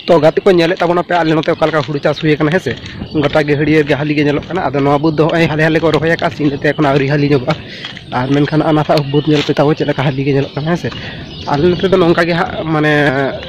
ᱛᱚ ᱜᱟᱛᱮ ᱠᱚ ᱧᱮᱞᱮᱫ ᱛᱟᱵᱚᱱᱟ ᱯᱮ ᱟᱞᱮ ᱱᱚᱛᱮ ᱚᱠᱟ ᱞᱮᱠᱟ ᱦᱩᱲᱩ ᱪᱟᱥ ᱦᱩᱭ ᱟᱠᱟᱱᱟ ᱦᱮᱸᱥᱮ ᱜᱚᱴᱟ ᱜᱮ ᱦᱟᱹᱲᱭᱟᱹᱨ ᱜᱮ ᱦᱟᱹᱞᱤ ᱜᱮ ᱧᱮᱞᱚᱜ ᱠᱟᱱᱟ ᱟᱫᱚ ᱱᱚᱣᱟ ᱵᱩᱫᱽ ᱫᱚ ᱦᱚᱸᱜᱼᱚᱭ ᱦᱟᱞᱮ ᱦᱟᱞᱮ ᱠᱚ ᱨᱚᱦᱚᱭ ᱟᱠᱟᱫᱼᱟ ᱥᱤᱧ ᱛᱮ ᱮᱠᱷᱚᱱ ᱟᱹᱣᱨᱤ ᱦᱟᱹᱞᱤ ᱧᱚᱜᱚᱜᱼᱟ ᱟᱨ ᱢᱮᱱᱠᱷᱟᱱ ᱚᱱᱟ ᱥᱟᱶ ᱵᱩᱫᱽ ᱧᱮᱞ ᱯᱮ ᱛᱟᱵᱚ ᱪᱮᱫ ᱞᱮᱠᱟ ᱦᱟᱹᱞᱤ ᱜᱮ ᱧᱮᱞᱚᱜ ᱠᱟᱱᱟ ᱦᱮᱸᱥᱮ ᱟᱞᱮ ᱱᱚᱛᱮ ᱫᱚ ᱱᱚᱝᱠᱟ ᱜᱮ ᱦᱟᱸᱜ ᱢᱟᱱᱮ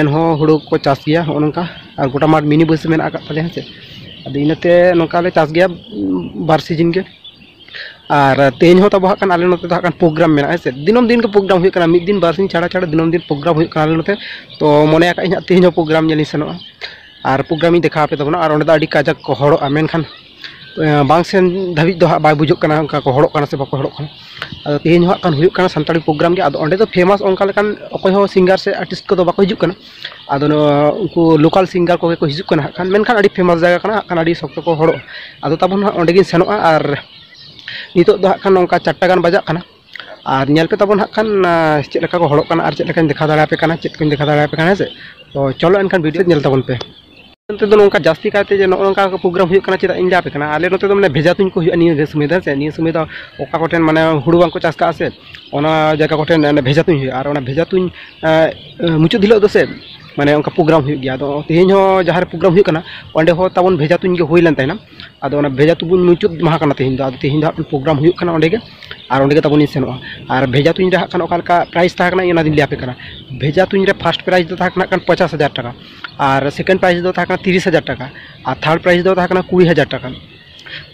ᱮᱱᱦᱚᱸ ᱦᱩᱲᱩ ᱠᱚ ᱪᱟᱥ ᱜᱮᱭᱟ ᱱᱚᱜᱼᱚ ᱱᱚᱝᱠᱟ ᱟᱨ ᱜᱚᱴᱟ ᱢᱟᱴᱷ ᱢᱤᱱᱤ ᱵᱟᱹᱭᱥᱟᱹᱣ ᱢᱮᱱᱟᱜ ᱠᱟᱜ ᱛᱟᱞᱮᱭᱟ ᱦᱮᱸ ᱥᱮ ᱟᱫᱚ ᱤᱱᱟᱹᱛᱮ ᱱᱚᱝᱠᱟ ᱞᱮ ᱪᱟᱥ ᱜᱮᱭᱟ ᱵᱟᱨ ᱥᱤᱡᱤᱱ ᱜᱮ ᱟᱨ ᱛᱮᱦᱮᱧ ᱦᱚᱸ ᱛᱟᱵᱚ ᱦᱟᱸᱜ ᱠᱷᱟᱱ ᱟᱞᱮ ᱱᱚᱛᱮ ᱫᱚ ᱦᱟᱸᱜ ᱠᱷᱟᱱ ᱯᱨᱳᱜᱨᱟᱢ ᱢᱮᱱᱟᱜᱼᱟ ᱦᱮᱸ ᱥᱮ ᱫᱤᱱᱟᱹᱢ ᱫᱤᱱ ᱜᱮ ᱯᱨᱳᱜᱨᱟᱢ ᱦᱩᱭᱩᱜ ᱠᱟᱱᱟ ᱢᱤᱫ ᱫᱤᱱ ᱵᱟᱨ ᱥᱤᱧ ᱪᱷᱟᱲᱟ ᱪᱷᱟᱲᱟ ᱫᱤᱱᱟᱹᱢ ᱫᱤᱱ ᱯᱨᱳᱜᱨᱟᱢ ᱦᱩᱭᱩᱜ ᱠᱟᱱᱟ ᱟᱞᱮ ᱱᱚᱛᱮ ᱛᱚ ᱢᱚᱱᱮ ᱟᱠᱟᱫ ᱟᱹᱧ ᱦᱟᱸᱜ ᱛᱮᱦᱮᱧ ᱦᱚᱸ ᱯᱨᱳᱜᱨᱟᱢ ᱧᱮᱞᱤᱧ ᱥᱮᱱᱚᱜᱼᱟ ᱟᱨ ᱯᱨᱳᱜᱨᱟᱢᱤᱧ ᱫᱮᱠᱷᱟᱣ ᱟᱯᱮ ᱛᱟᱵᱚᱱᱟ ᱟᱨ ᱚᱸᱰᱮ ᱫᱚ ᱟᱹᱰᱤ ᱠᱟᱡᱟᱠ ᱠᱚ ᱦᱚᱲᱚᱜᱼᱟ ᱢᱮᱱᱠᱷᱟᱱ ᱵᱟᱝ ᱥᱮᱱ ᱫᱷᱟᱹᱵᱤᱡ ᱫᱚ ᱦᱟᱸᱜ ᱵᱟᱭ ᱵᱩᱡᱩᱜ ᱠᱟᱱᱟ ᱚᱱᱠᱟ ᱠᱚ ᱦᱚᱲᱚᱜ ᱠᱟᱱᱟ ᱥᱮ ᱵᱟᱠᱚ ᱦᱚᱲᱚᱜ ᱠᱟᱱᱟ ᱟᱫᱚ ᱛᱮᱦᱮᱧ ᱦᱚᱸ ᱦᱟᱸᱜ ᱠᱷᱟᱱ ᱦᱩᱭᱩᱜ ᱠᱟᱱᱟ ᱥᱟᱱᱛᱟᱲᱤ ᱯᱨᱳᱜᱨᱟᱢ ᱜᱮ ᱟᱫᱚ ᱚᱸᱰᱮ ᱫᱚ ᱯᱷᱮᱢᱟᱥ ᱚᱱᱠᱟ ᱞᱮᱠᱟᱱ ᱚᱠᱚᱭ ᱦᱚᱸ ᱥᱤᱝᱜᱟᱨ ᱥᱮ ᱟᱨᱴᱤᱥᱴ ᱠᱚᱫᱚ ᱵᱟᱠᱚ ᱦᱤᱡᱩᱜ ᱠᱟᱱᱟ ᱟᱫᱚ ᱱᱚᱣᱟ ᱩᱱᱠᱩ ᱞᱳᱠᱟᱞ ᱥᱤᱝᱜᱟᱨ ᱠᱚᱜᱮ ᱠᱚ ᱦᱤᱡᱩᱜ ᱠᱟᱱᱟ ᱦᱟᱸᱜ ᱠᱷᱟᱱ ᱢᱮᱱᱠᱷᱟᱱ ᱟᱹᱰᱤ ᱯᱷᱮᱢᱟᱥ ᱡᱟᱭᱜᱟ ᱠᱟᱱᱟ ᱦᱟᱸᱜ ᱠᱷᱟᱱ ᱟᱹᱰᱤ ᱥᱚᱠᱛᱚ ᱠᱚ ᱦᱚᱲᱚᱜᱼᱟ ᱟᱫᱚ ᱛᱟᱵᱚᱱ ᱱᱟᱦᱟᱜ ᱚᱸᱰᱮ ᱜᱤᱧ ᱥᱮᱱᱚᱜᱼᱟ ᱟᱨ ᱱᱤᱛᱚᱜ ᱫᱚ ᱦᱟᱸᱜ ᱠᱷᱟᱱ ᱱᱚᱝᱠᱟ ᱪᱟᱨᱴᱟ ᱜᱟᱱ ᱵᱟᱡᱟᱜ ᱠᱟᱱᱟ ᱟᱨ ᱧᱮᱞ ᱯᱮ ᱛᱟᱵᱚᱱ ᱦᱟᱸᱜ ᱠᱷᱟᱱ ᱪᱮᱫ ᱞᱮᱠᱟ ᱠᱚ ᱦᱚᱲᱚᱜ ᱠᱟᱱᱟ ᱟᱨ ᱪᱮᱫ ᱞᱮᱠᱟᱧ ᱫᱮᱠᱷᱟᱣ ᱫᱟᱲᱮᱭᱟᱯᱮ ᱠᱟᱱᱟ ᱪᱮᱫ ᱠᱚᱧ ᱫᱮᱠᱷᱟᱣ ᱫᱟᱲᱮᱭᱟᱯᱮ ᱠᱟᱱᱟ ᱦᱮᱸ ᱥᱮ ᱛᱚ ᱪᱚᱞᱚ ᱮᱱᱠᱷᱟᱱ ᱵᱷᱤᱰᱤᱭᱳ ᱧᱮᱞ ᱛᱟᱵᱚᱱ ᱯᱮ ᱱᱚᱛᱮ ᱫᱚ ᱱᱚᱝᱠᱟ ᱡᱟᱹᱥᱛᱤ ᱠᱟᱭᱛᱮ ᱡᱮ ᱱᱚᱜᱼᱚ ᱱᱚᱝᱠᱟ ᱯᱨᱳᱜᱨᱟᱢ ᱦᱩᱭᱩᱜ ᱠᱟᱱᱟ ᱪᱮᱫᱟᱜ ᱤᱧ ᱞᱟᱹᱭᱟᱯᱮ ᱠᱟᱱᱟ ᱟᱞᱮ ᱱᱚᱛᱮ ᱫᱚ ᱢᱟᱱᱮ ᱵᱷᱮᱡᱟ ᱛᱩᱧ ᱠᱚ ᱦᱩᱭᱩᱜᱼᱟ ᱱᱤᱭᱟᱹ ᱥᱚᱢᱚᱭ ᱫᱚ ᱥᱮ ᱱᱤᱭᱟᱹ ᱥᱚᱢᱚᱭ ᱫᱚ ᱚᱠᱟ ᱠᱚᱴᱷᱮᱱ ᱢᱟᱱᱮ ᱦᱩᱲᱩ ᱵᱟᱝᱠᱚ ᱪᱟᱥ ᱠᱟᱜᱼᱟ ᱥᱮ ᱚᱱᱟ ᱡᱟᱭᱜᱟ ᱠᱚᱴᱷᱮᱱ ᱵᱷᱮᱡᱟ ᱛᱩᱧ ᱦᱩᱭᱩᱜᱼᱟ ᱟᱨ ᱚᱱᱟ ᱵᱷᱮᱡᱟ ᱛᱩᱧ ᱢᱩᱪᱟᱹᱫ ᱦᱤᱞᱳᱜ ᱫᱚ ᱥᱮ ᱢᱟᱱᱮ ᱚᱱᱠᱟ ᱯᱨᱳᱜᱨᱟᱢ ᱦᱩᱭᱩᱜ ᱜᱮᱭᱟ ᱟᱫᱚ ᱛᱮᱦᱮᱧ ᱦᱚᱸ ᱡᱟᱦᱟᱸ ᱨᱮ ᱯᱨᱳᱜᱨᱟᱢ ᱦᱩᱭᱩᱜ ᱠᱟᱱᱟ ᱚᱸᱰᱮ ᱦᱚᱸ ᱛᱟᱵᱚᱱ ᱵᱷᱮᱡᱟ ᱛᱩᱧ ᱜᱮ ᱦᱩᱭ ᱞᱮᱱ ᱛᱟᱦᱮᱱᱟ ᱟᱫᱚ ᱚᱱᱟ ᱵᱷᱮᱡᱟ ᱛᱩᱧ ᱢᱩᱪᱟᱹᱫ ᱢᱟᱦᱟ ᱠᱟᱱᱟ ᱛᱮᱦᱮᱧ ᱫᱚ ᱟᱫᱚ ᱛᱮᱦᱮᱧ ᱫᱚ ᱦᱟᱸᱜ ᱯᱨᱳᱜᱨᱟᱢ ᱦᱩᱭᱩᱜ ᱠᱟᱱᱟ ᱚᱸᱰᱮ ᱜᱮ ᱟᱨ ᱚᱸᱰᱮ ᱜᱮ ᱛᱟᱵᱚᱱ ᱤᱧ ᱥᱮᱱᱚᱜᱼᱟ ᱟᱨ ᱵᱷᱮᱡᱟ ᱛᱩᱧ ᱨᱮ ᱦᱟᱸᱜ ᱠᱷᱟᱱ ᱚᱠᱟ ᱞᱮᱠᱟ ᱯᱨᱟᱭᱤᱡᱽ ᱛᱟᱦᱮᱸ ᱠᱟᱱᱟ ᱚᱱᱟ ᱫᱚᱧ ᱞᱟᱹᱭᱟᱯᱮ ᱠᱟᱱᱟ ᱵᱷᱮᱡᱟ ᱛᱩᱧ ᱨᱮ ᱯᱷᱟᱥᱴ ᱯᱨᱟᱭᱤᱡᱽ ᱫᱚ ᱛᱟᱦᱮᱸ ᱠᱟᱱᱟ ᱯᱚᱧᱪᱟᱥ ᱦᱟᱡᱟᱨ ᱴᱟᱠᱟ ᱟᱨ ᱥᱮᱠᱮᱱᱰ ᱯᱨᱟᱭᱤᱡᱽ ᱫᱚ ᱛᱟᱦᱮᱸ ᱠᱟᱱᱟ ᱛᱤᱨᱤᱥ ᱦᱟᱡᱟᱨ ᱴᱟᱠᱟ ᱟᱨ ᱛᱷᱟᱨᱰ ᱯᱨᱟᱭᱤᱡᱽ ᱫᱚ ᱛᱟᱦᱮᱸ ᱠᱟᱱᱟ ᱠᱩᱲᱤ ᱦᱟᱡᱟᱨ ᱴᱟᱠᱟ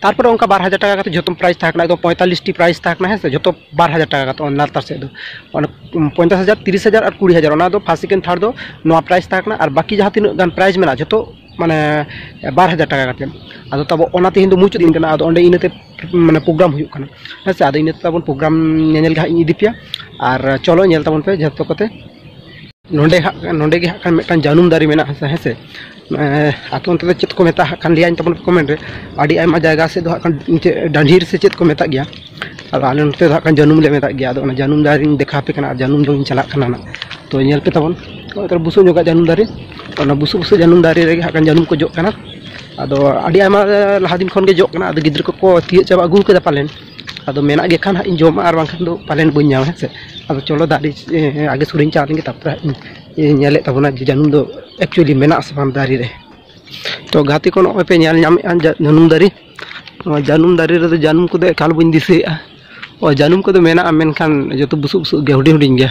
ᱛᱟᱨᱯᱚᱨᱮ ᱚᱱᱠᱟ ᱵᱟᱨ ᱦᱟᱡᱟᱨ ᱴᱟᱠᱟ ᱠᱟᱛᱮ ᱡᱚᱛᱚ ᱯᱨᱟᱭᱤᱡᱽ ᱛᱟᱦᱮᱸ ᱠᱟᱱᱟ ᱮᱠᱫᱚᱢ ᱯᱚᱸᱭᱛᱟᱞᱞᱤᱥ ᱴᱤ ᱯᱨᱟᱭᱤᱡᱽ ᱛᱟᱦᱮᱸ ᱠᱟᱱᱟ ᱦᱮᱸ ᱥᱮ ᱡᱚᱛᱚ ᱵᱟᱨ ᱦᱟᱡᱟᱨ ᱴᱟᱠᱟ ᱠᱟᱛᱮ ᱚᱱᱟ ᱞᱟᱛᱟᱨ ᱥᱮᱫ ᱫᱚ ᱚᱱᱟ ᱯᱚᱧᱪᱟᱥ ᱦᱟᱡᱟᱨ ᱛᱤᱨᱤᱥ ᱦᱟᱡᱟᱨ ᱟᱨ ᱠᱩᱲᱤ ᱦᱟᱡᱟᱨ ᱚᱱᱟ ᱫᱚ ᱯᱷᱟᱥ ᱥᱮᱠᱮᱱᱰ ᱛᱷᱟᱨᱰ ᱫᱚ ᱱᱚᱣᱟ ᱯᱨᱟᱭᱤᱡᱽ ᱛᱟᱦᱮᱸ ᱠᱟᱱᱟ ᱟᱨ ᱵᱟᱹᱠᱤ ᱡᱟᱦᱟᱸ ᱛᱤᱱᱟᱹᱜ ᱜᱟᱱ ᱯᱨᱟᱭᱤᱡᱽ ᱢᱮᱱᱟᱜᱼᱟ ᱡᱚᱛᱚ ᱢᱟᱱᱮ ᱵᱟᱨ ᱦᱟᱡᱟᱨ ᱴᱟᱠᱟ ᱠᱟᱛᱮ ᱟᱫᱚ ᱛᱟᱵᱚ ᱚᱱᱟ ᱛᱮᱦᱮᱧ ᱫᱚ ᱢᱩᱪᱟᱹᱫ ᱫᱤᱱ ᱠᱟᱱᱟ ᱟᱫᱚ ᱚᱸᱰᱮ ᱤᱱᱟᱹᱛᱮ ᱢᱟᱱᱮ ᱯᱨᱳᱜᱨᱟᱢ ᱦᱩᱭᱩᱜ ᱠᱟᱱᱟ ᱦᱮᱸ ᱥᱮ ᱟᱫᱚ ᱤᱱᱟᱹ ᱛᱟᱵᱚᱱ ᱯᱨᱳᱜᱨᱟᱢ ᱧᱮᱧᱮᱞ ᱜᱮ ᱦᱟᱸᱜ ᱤᱧ ᱤᱫᱤ ᱯᱮᱭᱟ ᱟᱨ ᱪᱚᱞᱚ ᱧᱮᱞ ᱛᱟᱵᱚᱱ ᱯᱮ ᱡᱚᱛᱚ ᱠᱚᱛᱮ ᱱᱚᱰᱮ ᱦᱟᱸᱜ ᱱᱚᱰᱮ ᱜᱮ ᱦᱟᱸᱜ ᱠᱷᱟᱱ ᱢᱤᱫᱴᱟᱝ ᱡᱟᱹᱱᱩᱢ ᱫᱟᱨᱮ ᱢᱮᱱᱟᱜᱼᱟ ᱥᱮ ᱦᱮᱸ ᱥᱮ ᱟᱯᱮ ᱚᱱᱛᱮ ᱫᱚ ᱪᱮᱫ ᱠᱚ ᱢᱮᱛᱟᱜ ᱦᱟᱸᱜ ᱠᱷᱟᱱ ᱞᱟᱹᱭᱟᱹᱧ ᱛᱟᱵᱚᱱ ᱯᱮ ᱠᱚᱢᱮᱱᱴ ᱨᱮ ᱟᱹᱰᱤ ᱟᱭᱢᱟ ᱡᱟᱭᱜᱟ ᱥᱮᱫ ᱫᱚ ᱦᱟᱸᱜ ᱠᱷᱟᱱ ᱪᱮᱫ ᱰᱟᱺᱰᱷᱤᱨ ᱥᱮ ᱪᱮᱫ ᱠᱚ ᱢᱮᱛᱟᱜ ᱜᱮᱭᱟ ᱟᱫᱚ ᱟᱞᱮ ᱱᱚᱛᱮ ᱫᱚ ᱦᱟᱸᱜ ᱠᱷᱟᱱ ᱡᱟᱹᱱᱩᱢ ᱞᱮ ᱢᱮᱛᱟᱜ ᱜᱮᱭᱟ ᱟᱫᱚ ᱚᱱᱟ ᱡᱟᱹᱱᱩᱢ ᱫᱟᱨᱮᱧ ᱫᱮᱠᱷᱟᱣ ᱟᱯᱮ ᱠᱟᱱᱟ ᱟᱨ ᱡᱟᱹᱱᱩᱢ ᱡᱚᱢᱤᱧ ᱪᱟᱞᱟᱜ ᱠᱟᱱᱟ ᱱᱟᱜ ᱛᱚ ᱧᱮᱞ ᱯᱮ ᱛᱟᱵᱚᱱ ᱱᱚᱜᱼᱚᱭ ᱵᱩᱥᱩᱵ ᱧᱚᱜᱟᱜ ᱡᱟᱹᱱᱩᱢ ᱫᱟᱨᱮ ᱚᱱᱟ ᱵᱩᱥᱩᱵ ᱵᱩᱥᱩᱵ ᱡᱟᱹᱱᱩᱢ ᱫᱟᱨᱮ ᱨᱮᱜᱮ ᱦᱟᱸᱜ ᱠᱷᱟᱱ ᱡᱟᱹᱱᱩᱢ ᱠᱚ ᱡᱚᱜ ᱠᱟᱱᱟ ᱟᱫᱚ ᱟᱹᱰᱤ ᱟᱭᱢᱟ ᱞᱟᱦᱟ ᱫᱤᱱ ᱠᱷᱚᱱ ᱜᱮ ᱡᱚᱜ ᱠᱟᱱᱟ ᱟᱫᱚ ᱜᱤᱫᱽᱨᱟᱹ ᱠᱚᱠᱚ ᱛᱤᱭᱳᱜ ᱪᱟᱵᱟ ᱟᱹᱜᱩ ᱠᱟᱫᱟ ᱯᱟᱞᱮᱱ ᱟᱫᱚ ᱢᱮᱱᱟᱜ ᱜᱮ ᱠᱷᱟᱱ ᱦᱟᱸᱜ ᱤᱧ ᱡᱚᱢᱟ ᱟᱨ ᱵᱟᱝᱠᱷᱟᱱ ᱫᱚ ᱯᱟᱞᱮᱱ ᱵᱟᱹᱧ ᱧᱟᱢᱟ ᱦᱮᱸ ᱥᱮ ᱟᱫᱚ ᱪᱚᱞᱚ ᱫᱟᱨᱮ ᱟᱜᱮ ᱥᱩᱨᱤᱧ ᱪᱟᱞᱟᱣ ᱞᱮᱱᱜᱮ ᱛᱟᱨᱯᱚᱨᱮ ᱦᱟᱸᱜ ᱤᱧ ᱧᱮᱞᱮᱫ ᱛᱟᱵᱚᱱᱟ ᱡᱮ ᱡᱟᱹᱱᱩᱢ ᱫᱚ ᱮᱠᱪᱩᱭᱮᱞᱤ ᱢᱮᱱᱟᱜ ᱟᱥᱮ ᱵᱟᱝ ᱫᱟᱨᱮ ᱨᱮ ᱛᱚ ᱜᱟᱛᱮ ᱠᱚ ᱱᱚᱜᱼᱚᱭ ᱯᱮ ᱧᱮᱞ ᱧᱟᱢᱮᱫᱼᱟ ᱡᱟ- ᱡᱟᱹᱱᱩᱢ ᱫᱟᱨᱮ ᱱᱚᱣᱟ ᱡᱟᱹᱱᱩᱢ ᱫᱟᱨᱮ ᱨᱮᱫᱚ ᱡᱟᱹᱱᱩᱢ ᱠᱚᱫᱚ ᱮᱠᱟᱞ ᱵᱟᱹᱧ ᱫᱤᱥᱟᱹᱭᱮᱫᱼᱟ ᱚ ᱡᱟᱹᱱᱩᱢ ᱠᱚᱫᱚ ᱢᱮᱱᱟᱜᱼᱟ ᱢᱮᱱᱠᱷᱟᱱ ᱡᱚᱛᱚ ᱵᱩᱥᱩᱵ ᱵᱩᱥᱩᱵ ᱜᱮᱭᱟ ᱦᱩᱰᱤᱧ ᱦᱩᱰᱤᱧ ᱜᱮᱭᱟ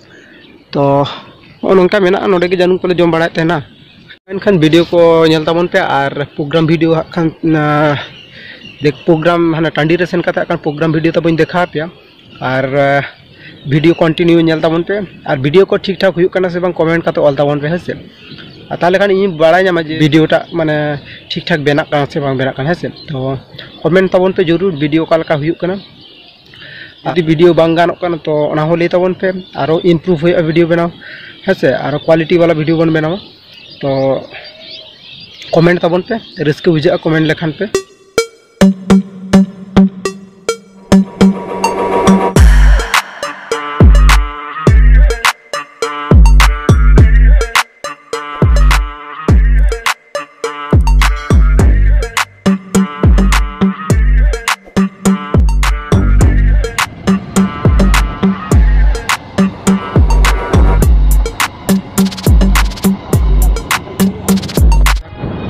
ᱛᱚ ᱱᱚᱜᱼᱚ ᱱᱚᱝᱠᱟ ᱢᱮᱱᱟᱜᱼᱟ ᱱᱚᱰᱮ ᱜᱮ ᱡᱟᱹᱱᱩᱢ ᱠᱚᱞᱮ ᱡᱚᱢ ᱵᱟᱲᱟᱭᱮᱫ ᱛᱟᱦᱮᱱᱟ ᱢᱮᱱᱠᱷᱟᱱ ᱵᱷᱤᱰᱤᱭᱳ ᱠᱚ ᱧᱮᱞ ᱛᱟᱵᱚᱱ ᱯᱮ ᱟᱨ ᱯᱨᱳᱜᱨᱟᱢ ᱵᱷᱤᱰᱤᱭᱳ ᱦᱟᱸᱜ ᱠᱷᱟᱱ ᱫᱮᱠ ᱯᱨᱳᱜᱨᱟᱢ ᱦᱟᱱᱟ ᱴᱟᱺᱰᱤ ᱨᱮ ᱥᱮᱱ ᱠᱟᱛᱮᱫ ᱦᱟᱸᱜ ᱠᱷᱟᱱ ᱯᱨᱳᱜᱨᱟᱢ ᱵᱷᱤᱰᱤᱭᱳ ᱛᱟᱵᱚᱧ ᱫᱮᱠᱷᱟᱣ ᱯᱮᱭᱟ ᱟᱨ ᱵᱷᱤᱰᱤᱭᱳ ᱠᱚᱱᱴᱤᱱᱤᱭᱩ ᱧᱮᱞ ᱛᱟᱵᱚᱱ ᱯᱮ ᱟᱨ ᱵᱷᱤᱰᱤᱭᱳ ᱠᱚ ᱴᱷᱤᱠ ᱴᱷᱟᱠ ᱦᱩᱭᱩᱜ ᱠᱟᱱᱟ ᱥᱮ ᱵᱟᱝ ᱠᱚᱢᱮᱱᱴ ᱠᱟᱛᱮᱫ ᱚᱞ ᱛᱟᱵᱚᱱ ᱯᱮ ᱦᱮᱸ ᱥᱮ ᱟᱨ ᱛᱟᱦᱚᱞᱮ ᱠᱷᱟᱱ ᱤᱧ ᱵᱟᱲᱟᱭ ᱧᱟᱢᱟ ᱡᱮ ᱵᱷᱤᱰᱤᱭᱳᱴᱟᱜ ᱢᱟᱱᱮ ᱴᱷᱤᱠ ᱴᱷᱟᱠ ᱵᱮᱱᱟᱜ ᱠᱟᱱᱟ ᱥᱮ ᱵᱟᱝ ᱵᱮᱱᱟᱜ ᱠᱟᱱᱟ ᱦᱮᱸ ᱥᱮ ᱛᱚ ᱠᱚᱢᱮᱱᱴ ᱛᱟᱵᱚᱱ ᱯᱮ ᱡᱚᱨᱩᱨ ᱵᱷᱤᱰᱤᱭᱳ ᱚᱠᱟ ᱞᱮᱠᱟ ᱦᱩᱭᱩᱜ ᱠᱟᱱᱟ ᱡᱩᱫᱤ ᱵᱷᱤᱰᱤᱭᱳ ᱵᱟᱝ ᱜᱟᱱᱚᱜ ᱠᱟᱱᱟ ᱛᱚ ᱚᱱᱟ ᱦᱚᱸ ᱞᱟᱹᱭ ᱛᱟᱵᱚᱱ ᱯᱮ ᱟᱨᱚ ᱤᱢᱯᱨᱩᱵᱷ ᱦᱩᱭᱩᱜᱼᱟ ᱵᱷᱤᱰᱤᱭᱳ ᱵᱮᱱᱟᱣ ᱦᱮᱸ ᱥᱮ ᱟᱨᱚ ᱠᱣᱟᱞᱤᱴᱤ ᱵᱟᱞᱟ ᱵᱷᱤᱰᱤᱭᱳ ᱵᱚᱱ ᱵᱮᱱᱟᱣᱟ ᱛᱚ ᱠᱚᱢᱮᱱᱴ ᱛᱟᱵᱚᱱ ᱯᱮ ᱨᱟᱹᱥᱠᱟᱹ ᱵᱩᱡᱷᱟᱹᱜᱼᱟ ᱠᱚᱢᱮᱱᱴ ᱞᱮᱠᱷᱟᱱ ᱯᱮ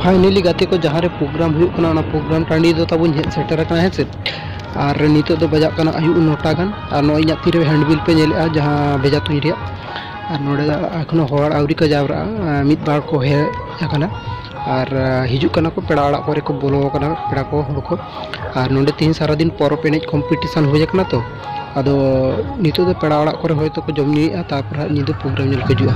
ᱯᱷᱟᱭᱱᱮᱞᱤ ᱜᱟᱛᱮ ᱠᱚ ᱡᱟᱦᱟᱸ ᱨᱮ ᱯᱨᱳᱜᱨᱟᱢ ᱦᱩᱭᱩᱜ ᱠᱟᱱᱟ ᱚᱱᱟ ᱯᱨᱳᱜᱨᱟᱢ ᱴᱟᱺᱰᱤ ᱫᱚ ᱛᱟᱵᱚᱱ ᱦᱮᱡ ᱥᱮᱴᱮᱨ ᱟᱠᱟᱱᱟ ᱦᱮᱸ ᱥᱮ ᱟᱨ ᱱᱤᱛᱚᱜ ᱫᱚ ᱵᱟᱡᱟᱜ ᱠᱟᱱᱟ ᱟᱹᱭᱩᱵ ᱱᱚᱴᱟ ᱜᱟᱱ ᱟᱨ ᱱᱚᱜᱼᱚᱭ ᱤᱧᱟᱹᱜ ᱛᱤᱨᱮ ᱦᱮᱱᱰᱵᱤᱞ ᱯᱮ ᱧᱮᱞᱮᱫᱼᱟ ᱡᱟᱦᱟᱸ ᱵᱷᱮᱡᱟ ᱛᱩᱧ ᱨᱮᱭᱟᱜ ᱟᱨ ᱱᱚᱰᱮ ᱫᱚ ᱮᱠᱷᱚᱱᱳ ᱦᱚᱲ ᱟᱹᱣᱨᱤ ᱠᱚ ᱡᱟᱣᱨᱟᱜᱼᱟ ᱢᱤᱫ ᱵᱟᱨ ᱠᱚ ᱦᱮᱡ ᱟᱠᱟᱱᱟ ᱟᱨ ᱦᱤᱡᱩᱜ ᱠᱟᱱᱟ ᱠᱚ ᱯᱮᱲᱟ ᱚᱲᱟᱜ ᱠᱚᱨᱮ ᱠᱚ ᱵᱚᱞᱚ ᱟᱠᱟᱱᱟ ᱯᱮᱲᱟ ᱠᱚ ᱦᱚᱲ ᱠᱚ ᱟᱨ ᱱᱚᱰᱮ ᱛᱮᱦᱮᱧ ᱥᱟᱨᱟᱫᱤᱱ ᱯᱚᱨᱚᱵᱽ ᱮᱱᱮᱡ ᱠᱚᱢᱯᱤᱴᱤᱥᱚᱱ ᱦᱩᱭ ᱟᱠᱟᱱᱟ ᱛᱚ ᱟᱫᱚ ᱱᱤᱛᱚᱜ ᱫᱚ ᱯᱮᱲᱟ ᱚᱲᱟᱜ ᱠᱚᱨᱮ ᱦᱚᱭᱛᱳ ᱠᱚ ᱡᱚᱢ ᱧᱩᱭᱮᱫᱼᱟ ᱛᱟᱨᱯᱚᱨ ᱦᱟᱸᱜ ᱧᱤᱫᱟᱹ ᱯᱨᱳᱜᱨᱟᱢ ᱧᱮᱞ ᱠᱚ ᱦᱤᱡᱩᱜᱼᱟ